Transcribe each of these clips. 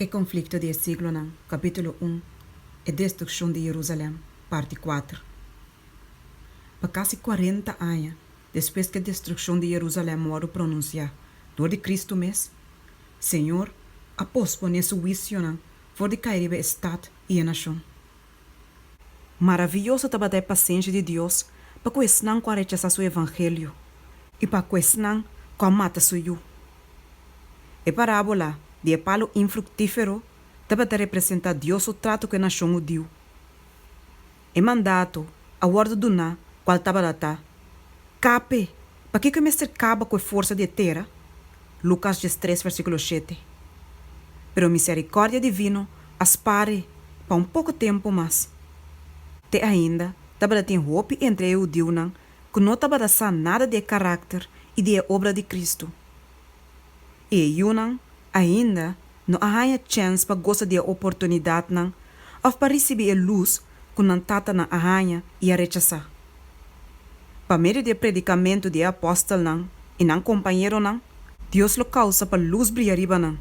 E konflikto di e siglonan, Kapítulo un, E destrukshon di Jerusalèm, Parti kuater. Pa kasi kuarenta aña despues ku e destrukshon di Jerusalèm wòrdu pronunsiá dor di Kristu mes, Señor a posponé Su huisionan for di kai riba e stat i e nashon. Maraviyoso tabata e pasensha di Dios pa ku esnan ku a rechasá su evangelio i pa ku esnan ku a mata su yu! E parábola di e palu infruktífero tabata representá Dios su tratu ku e nashon hudiu. E mandato a wòrdu duná kual tabalatá, Kape Pakiko e mester kaba ku e forsa di e tera? Lukas dies tres versíkulo shete, Pero miserikòrdia divino a spare pa un poko tempu mas. Te ainda tabatatin hopi entre e hudiunan ku no tabata sa nada di e karakter i di e obra di Kristu. E yunan ainda no a haña chèns pa gosa di e oportunidatnan òf pa risibí e lus ku nan tatanan a haña i a rechasá. Pa medio di e predikamentu di e apòstelnan i nan kompañeronan, Dios lo kousa pa lus bria riba nan.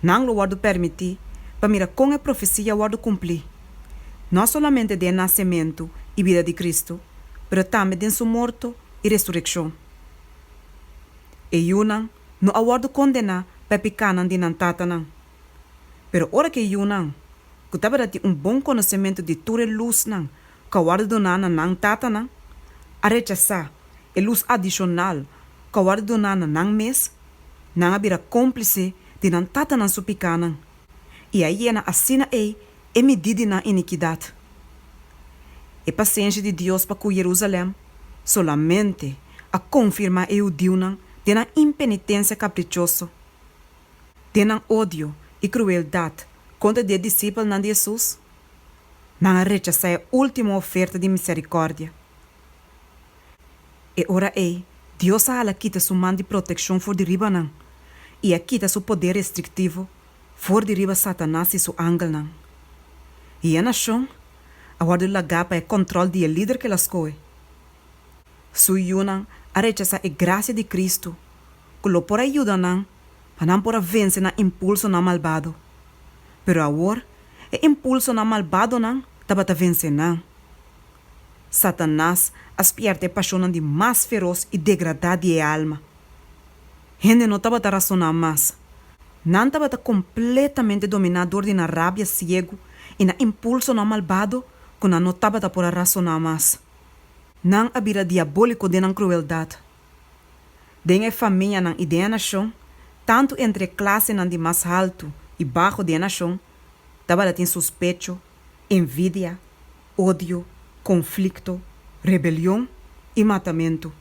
Nan lo wòrdu permití pa mira kon e profesia a wòrdu kumplí, no solamente den e nasementu i bida di Kristu, pero tambe den Su morto i resurekshon. E yunan no a wòrdu kondená pa e pikánan di nan tatanan. Pero ora ku e yunan, ku tabata tin un bon konosementu di tur e lusnan ku a wòrdu doná na nan tatanan, a rechasá e lus adishonal ku a wòrdu doná na nan mes, nan a bira kómplise di nan tatanan su pikánan. i a yena asina ei e midí di nan inikidat. E pasenshi di Dios pa ku Jerusalèm solamente a konfirmá e hudiunan den nan impenitensia kaprichoso, den nan odio i krueldat kontra di e disipelnan di Hesus. Nan a rechasá e último oferta di miserikòrdia. E ora ei, Dios a hala kita su man di protekshon for di riba nan i a kita su poder restriktivo for di riba Satanas i su angelnan. I e nashon a wòrdu lagá pa e kòntròl di e lider ke el a skohe. Su yunan a rechasá e grasia di Kristu ku lo por a yuda nan pa nan por a vense nan impulsonan malbado. Pero awor e impulsonan malbadonan tabata vense nan. Satanas a spièrta e pashonnan di mas feros i degradá di e alma. Hende no tabata rasoná mas. Nan tabata kompletamente dominá dor di nan rabia siegu i nan impulsonan malbado ku nan no tabata por a rasoná mas. Nan a bira diabóliko den nan krueldat. Den e famianan i den e nashon, tantu entre e klasenan di mas haltu i baxo di e nashon, tabata tin suspecho, envidia, odio, konflikto, rebelion i matamentu.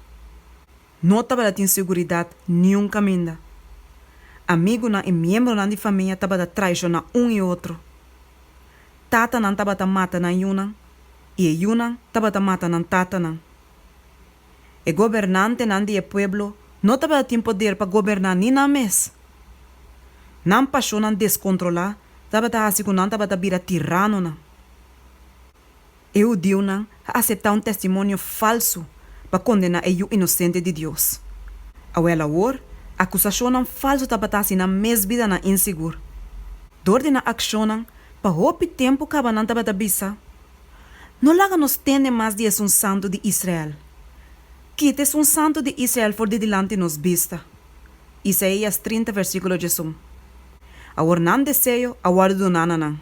No tabata tin seguridat niun kaminda. Amigunan i miembronan di famia tabata traishoná un i otro. Tatanan tabata mata nan yunan i e yunan tabata mata nan tatanan. E gobernantenan di e pueblo no tabata tin poder pa goberná ni nan mes. Nan pashonnan deskontrolá tabata hasi ku nan tabata bira tiranonan. E hudiunan a aseptá un testimonio falsu pa kondená e yu inosente di Dios. Awor awor, akusashonnan falsu tabata hasi nan mes bidanan insigur. Dor di nan akshonnan, pa hopi tempu kaba nan tabata bisa, No laga nos tende mas di e sun santu di Israel. Kita e sun santu di Israel for di dilanti nos bista. Isaías trinta, versíkulo djesun. Awor nan deseo a wòrdu doná na nan.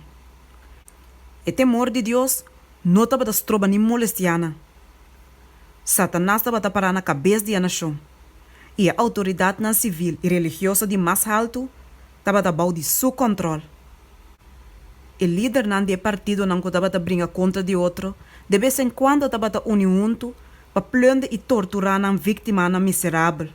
E temor di Dios no tabata stroba ni molestianan. Satanas tabata pará na kabes di e nashon, i e outoridatnan sivil i religioso di mas haltu tabata bou di su kòntròl. E lidernan di e partidonan ku tabata bringa kontra di otro de bes en kuando tabata uni huntu pa plunde i torturá nan víktimanan miserabel,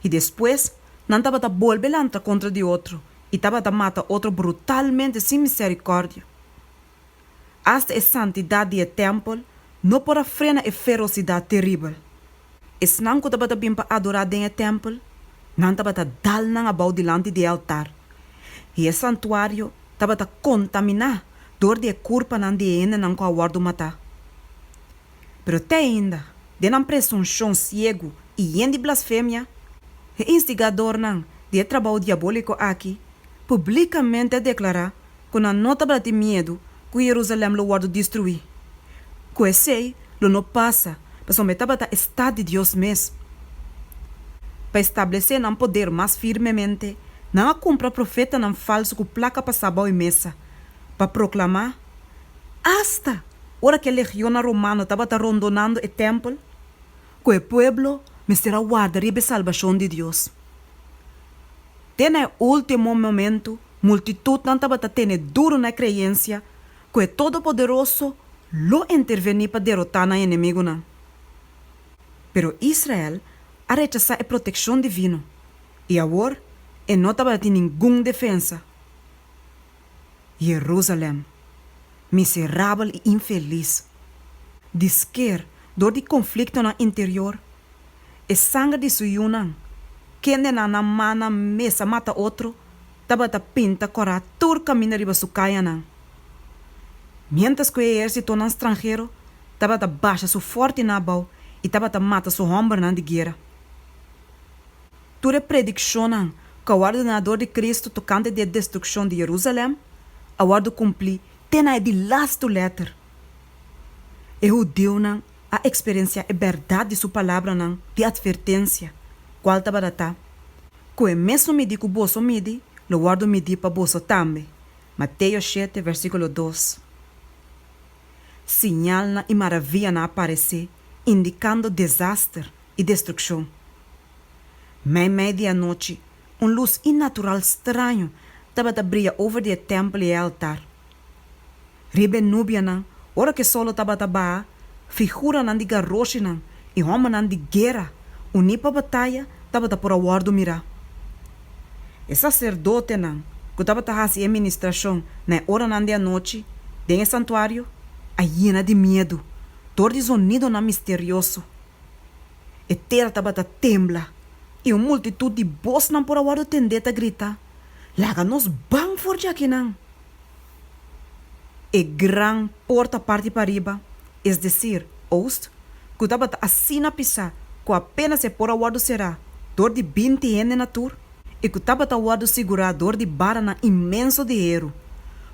i despues nan tabata bolbe lantra kontra di otro i tabata mata otro brutalmente sin misericordia. Asta e santidad di e tempel no por a frena e ferocidad terribel. Esnan cu tabata bin pa adora den e tempel, nan tabata dal nan abao dilanti di e altar, i e santuario tabata contamina dor di e curpanan di e hendenan cu a wordo mata. Pero te ainda, den nan presunshon siegu i yen di blasfemia, e instigadornan di e trabou diabóliko aki publíkamente a deklará ku nan no tabata tin miedu ku Yerusalèm lo wòrdu destruí, ku esei lo no pasa pasobra e tabata e stat di Dios mes. Pa establesé nan poder mas firmemente, nan a kumpra profetanan falsu ku plaka pa sa bou e mesa pa proklamá Asta ora ku e legionnan romano tabata rondonando e tèmpel, ku e pueblo mester a warda riba e salbashon di Dios. Te na e último momentu, multitutnan tabata tene duru na e kreensia ku e Todopoderoso lo intervení pa derotá nan enemigunan. Pero Israel a rechasá e protekshon divino, i awor e no tabata tin ningun defensa. Jerusalem, miserabel i infelis! Di sker, dor di konfliktonan interior, e sanger di su yunan, kendenan nan mannan mes a mata otro, tabata pinta kòrá tur kaminda riba su kayanan, miéntras ku e ehérsitonan stranhero tabata basha su fòrtinan abou i tabata mata su hòmbernan di guera. Tur e predikshonnan ku a wòrdu duna dor di Kristu tokante di e destrukshon di Yerusalèm a wòrdu kumplí te na e di lastu lèter. E hudiunan a eksperensiá e bèrdat di su palabranan di atvertensia, kual tabata ta, Ku e mesun midí ku boso midi, lo wòrdu midí pa boso tambe, Mateo shete, vèrsíkulo dos. Siñalnan i maravianan a paresé, indikando desaster i destrukshon. Mei mei di anochi, un lus inatural straño tabata bria over di e tèmpel i e altar. Riba e nubianan, ora ku e sòl lo tabata baha, figuranan di garoshinan i hòmbernan di guera uní pa bataya tabata por a wòrdu mirá. E saserdotenan ku tabata hasi e ministrashon na e oranan di anochi den e santuario a yena di miedu, dor di zonidonan misterioso. E tera tabata tembla, i un multitut di bosnan por a wòrdu tendé ta grita, Laga nos ban for dja kinan! E gran por ta parti pariba, es desir, oost, ku tabata asina pisá ku apénas e por a wòrdu será dor di binti hende na tur, i ku tabata wòrdu sigurá dor di baranan inmenso di heru,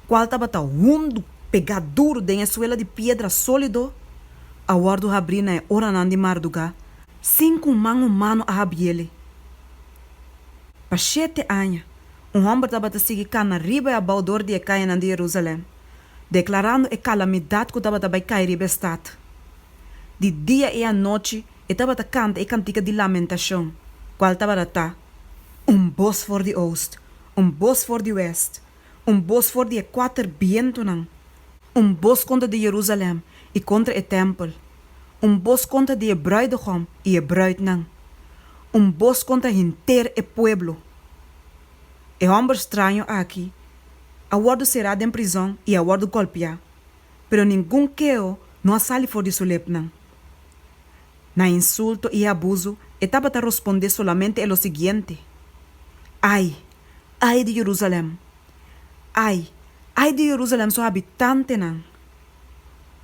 kual tabata hundu, pegá duru den e suela di piedra sólido. a wòrdu habrí na e oranan di mardugá sin ku un man humano a habiéle. Pa shete aña, un hòmber tabata sigui kana riba i abou dor di e kayanan di Jerusalèm, deklarando e kalamidat ku tabata bai kai riba e stat. Di dia i anochi e tabata kanta e kantika di lamentashon, kual tabaratá, Un bos for di oost, un bos for di wèst! Un bos for di e kuater bientunan. Un bos kontra di Jerusalèm i kontra e tèmpel. Un bos kontra di e brùidegom i e brùitnan. Un bos kontra henter e pueblo. E hòmber straño aki a wòrdu será den prizòn i a wòrdu gòlpiá, pero ningun keo no a sali for di su lepnan. Na e insulto i e abuso e tabata rospondé solamente e lo siguiente, Ai! Ai di Jerusalem! Ai! Ai di Jerusalem su habitantenan!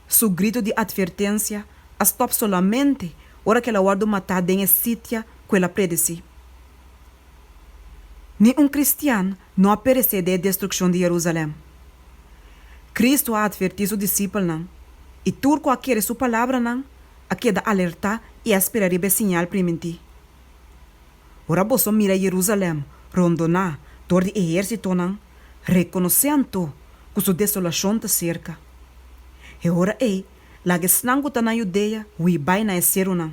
Su grito di atvertensia a stòp solamente ora ku el a wòrdu matá den e sitia ku el a predesí. Ni un kristian no a peresé den e destrukshon di Jerusalem. Kristu a atvertí su disipelnan, i tur ku a kere su palabranan a keda alertá i a spera riba e siñal primintí. Ora boso mira Jerusalem rondoná dor di ehérsitonan, rekonosé anto ku su desolashon ta serka. E ora ei, laga esnan ku ta na Judea hui bai na e serunan,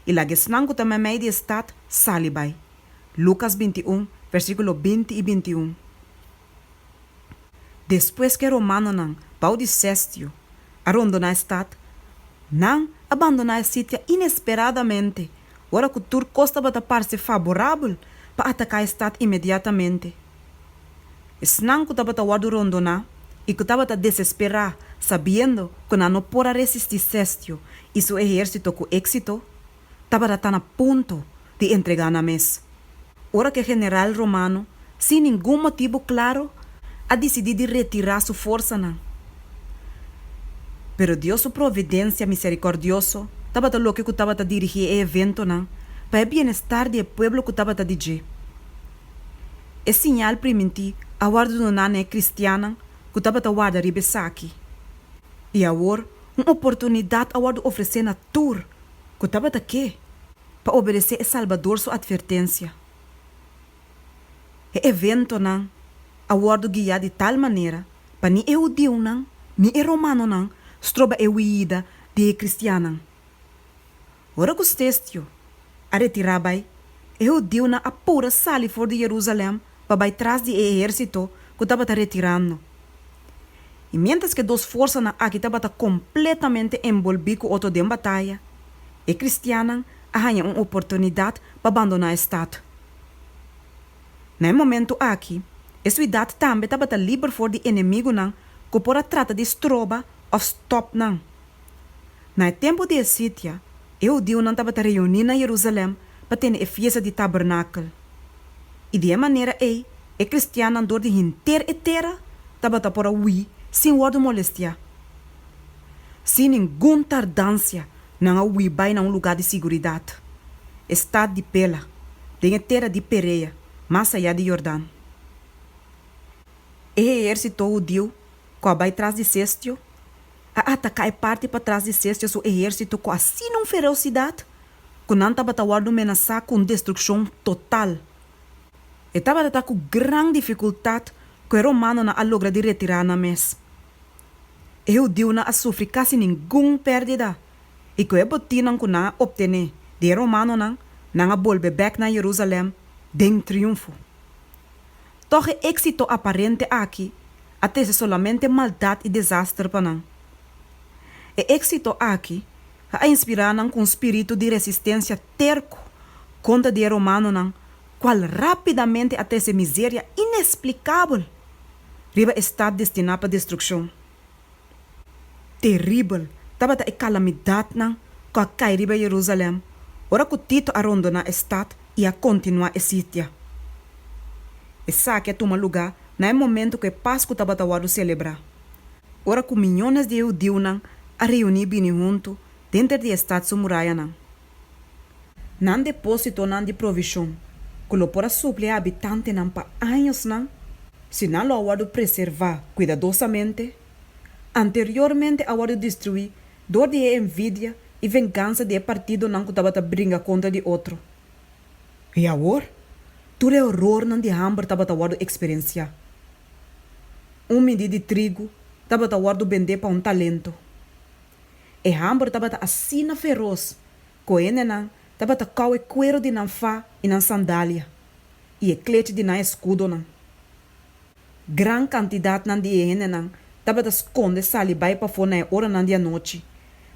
i laga esnan ku ta meimei di e stat sali bai. Lukas binti un, versíkulo binti i binti un. Despues ku e romanonan, bou di Sestio, a rondoná e stat, nan a bandoná e sitia inesperadamente ora ku tur kos tabata parse faborabel pa ataká e stat inmediatamente. Esnan ku tabata wòrdu rondoná i ku tabata desesperá sabiendo ku nan no por a resistí Sestio i su ehérsito ku éksito, tabata ta na punto di entregá nan mes, ora ku e general romano sin ningun motibu klaru a disidí di retirá su forsanan. Pero Dios su providensia miserikòrdioso tabata loke ku tabata dirigí e eventonan pa e bienestar di e pueblo ku tabata di dje. E siñal primintí a wòrdu doná na e kristiannan ku tabata warda riba esaki, i awor un oportunidat a wòrdu ofresé na tur Cu tabata ke pa obedecé e Salbador su advertencia. E eventonan a wordo guia di tal manera pa ni e hudiunan ni e romanonan stroba e huida di e cristiannan. Ora cu Stestio a retira bai, e hudiunan a pura sali for di Jerusalem pa bai tras di e ehérsito ku tabata retirando. I miéntras ku e dos forsanan aki tabata kompletamente enbolbí ku otro den bataya, e kristiannan a haña un oportunidat pa bandoná e stat. Na e momentu aki, e suidat tambe tabata liber for di enemigunan ku por a trata di stroba òf stòp nan. Na e tempu di e sitia, e hudiunan tabata reuní na Jerusalèm pa tene e fiesta di Tabernakel, i di e manera ei e kristiannan dor di henter e tera tabata por a hui sin wòrdu molestiá. Sin ningun tardansia nan a hui bai na un lugá di siguridat, e stat di Pela, den e tera di Perea, mas ayá di Yordan. E heérsito hudiu ku a bai tras di Sestio, a ataká e parti patras di Sestia su ehérsito ku asina un fereosidat ku nan tabata wòrdu menasá ku un destrukshon total. E tabata ta ku gran difikultat ku e romanonan a logra di retirá nan mes. E hudiunan a sufri kasi ningun pèrdida i ku e botinnan ku nan a optené di e romanonan, nan a bolbe bèk na Jerusalèm den triunfo. Tòg e éksito aparente aki a trese solamente maldat i desaster pa nan. E éksito aki a inspirá nan ku un spiritu di resistensia terku kontra di e romanonan kual rápidamente a trese miseria inesplikabel riba e stat destiná pa destrukshon. Teribel tabata e kalamidatnan ku a kai riba Yerusalèm ora ku Tito a rondoná e stat i a kontinuá e sitia. Esaki a tuma lugá na e momentu ku e Pasku tabata wòrdu selebrá, ora ku miñones di e hudiunan a reuní bini huntu denter di e stat su murayanan. Nan depósitonan di provishon, ku lo por a suplí habitantenan pa añosnan si nan lo a wòrdu preservá kuidadosamente, anteriormente a wòrdu destruí dor di e envidia i vengansa di e partidonan ku tabata bringa kontra di otro. I awor, tur e orornan di hamber tabata wòrdu eksperensiá. Un midí di trigu tabata wòrdu bendé pa un talento. E hambor tabata asina feros cu hendenan tabata cau e cuero di nan fa y nan sandalia y e clech di nan escudonan. Gran cantidadnan di e hendenan tabata sconde sali bay pafo na e oranan di anochi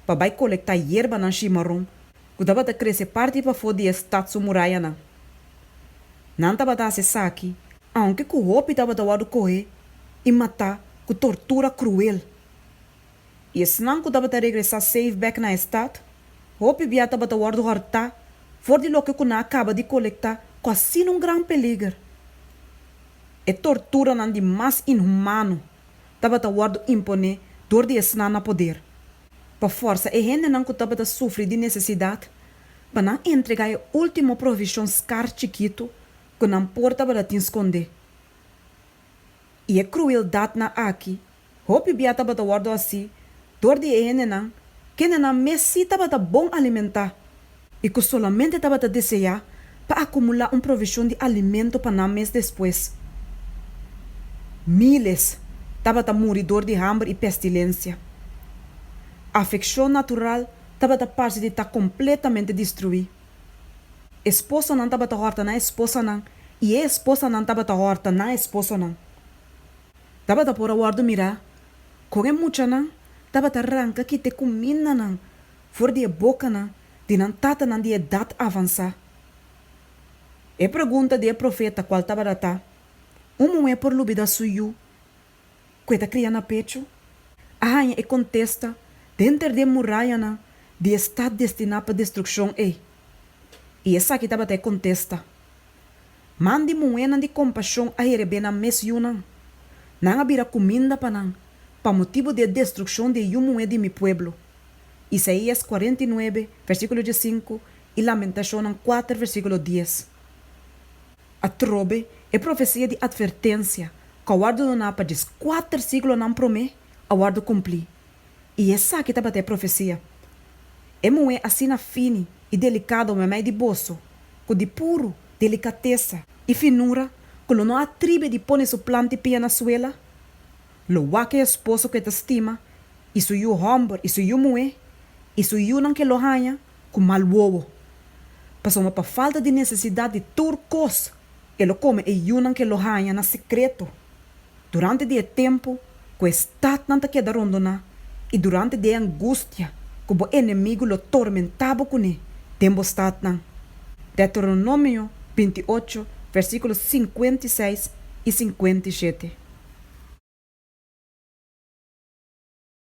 pa bay colecta yerbanan shimaron cu tabata crece parti pafo di e stad su murayanan. Nan tabata haci esaki aunke cu hopi tabata wordo coge y mata cu tortura cruel. i esnan ku tabata regresá seif bèk na e stat, hopi bia tabata wòrdu hòrtá for di loke ku nan a kaba di kolektá ku asina un gran peliger. E torturanan di mas inhumano tabata wòrdu imponé dor di esnan na poder, pa fòrsa e hendenan ku tabata sufri di nesesidat pa nan entregá e último provishon skar chikitu ku nan por tabata tin skondé. I e krueldatnan aki Hopi bia tabata wòrdu hasi dor di e hendenan kendenan mes sí tabata bon alimentá i ku solamente tabata deseá pa akumulá un provishon di alimento pa nan mes despues. Míles tabata muri dor di hamber i pestilensia. Afekshon natural tabata parse di ta kompletamente destruí. Esposanan tabata hòrta nan esposanan i e esposanan tabata hòrta nan esposonan. Tabata por a wòrdu mirá kon e muchanan tabata ranka kit e kumindanan for di e bokanan di nan tatanan di edat avansá. E pregunta di e profeta kual tabata ta, Un muhé por lubidá su yu ku e ta kria na pechu? a haña e kontesta den ter di e murayanan di e stat destiná pa destrukshon ei. I esaki tabata e kontesta. Man di muhénan di kompashon a herebé nan mes yunan. Nan a bira kuminda pa nan, pa motibu di e destrukshon di e yu muhé di mi pueblo. Isaías kuarenta i nuebe, versíkulo diesinku, i Lamentashonnan kuater, versíkulo dies. Atrobe, e profesia di atvertensia ku a wòrdu doná pa djes kuater siglonan promé, a wòrdu kumplí. I esaki tabata e profecia. E muhe asina fini i delicado mamey di boso, cu di puru delicatesa i finura cu lo no a atribi di pone su planti pia na suela, lo wak e esposo cu e ta stima, i su yu homber i su yu muhe, i su yunan cu e lo haña, ku mal wowo, pasobra pa falta di nesesidat di tur kos e lo kome e yunan ku e lo haña na sekreto durante di e tempu ku e statnan ta keda rondoná i durante di e angustia ku bo enemigu lo tormentá bo kuné den bo statnan. Deuteronomio binti i ocho, versíkulo sinkuenta i seis i sinkuenta i shete.